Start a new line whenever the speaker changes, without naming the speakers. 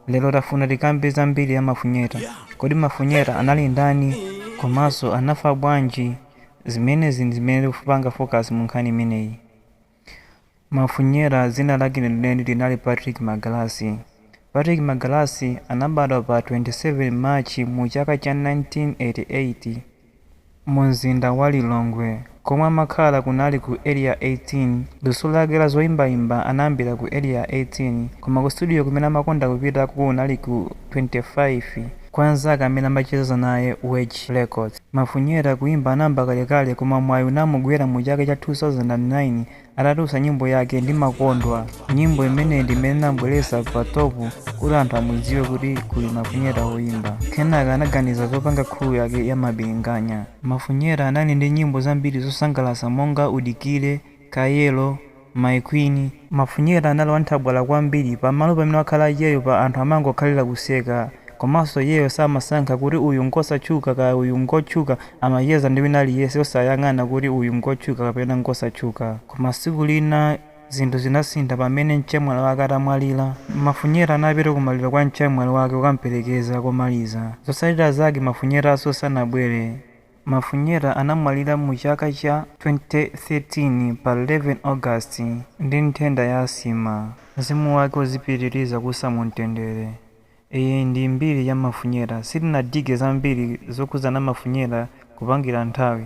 Lero tafuna tikambe za mbiri ya Mafunyeta. Kodi Mafunyeta anali ndani komanso anafa bwanji? Zimenezi ndi zimene tikupanga focus mu nkhani imeneyi. Mafunyeta dzina lake lenileni linali Patrick Magalasi. Patrick Magalasi anabadwa pa 27 March mu chaka cha 1988. Mu mzinda wa Lilongwe komwe amakhala kunali ku Area 18. Luso lake la zoimbaimba anayambira ku Area 18 koma ku studio kumene amakonda kupita kunali ku 25 kwa anzake amene amacheza naye Wage Records. Mafunyeta kuimba anayamba kalekale koma mwayi unamugwera mu chaka cha 2009 Atatulutsa nyimbo yake Ndimakondwa, nyimbo imene ndi imene inamubweretsa pa top kuti anthu amudziwe kuti kuli Mafunyeta woimba. Kenaka anaganiza zopanga crew yake ya Mabilinganya. Mafunyeta anali ndi nyimbo zambiri zosangalatsa monga Udikire, Kayero, My Queen. Mafunyeta anali wanthabwala kwambiri, pamalo pamene wakhala iyeyo pa anthu amangokhalira kuseka. Komanso iyeyo samasankha kuti uyu ngosatchuka kaya uyu ngotchuka Amacheza ndi wina aliyense osayang'ana kuti uyu ngotchuka kapena ngosatchuka. Koma tsiku lina zinthu zinasintha pamene mchemwali wake atamwalira. Mafunyeta anapita ku maliro kwa mchemwali wake kukamperekeza komaliza. Zotsatira zake Mafunyetanso sanabwere. Mafunyeta anamwalira mu chaka cha 2013 pa 11 August ndi nthenda ya asima. Mzimu wake uzipitiriza kuusa mu mtendere. Iyi ndi mbiri ya Mafunyeta. Sitinadige zambiri zokhudzana Mafunyeta kupangira nthawi.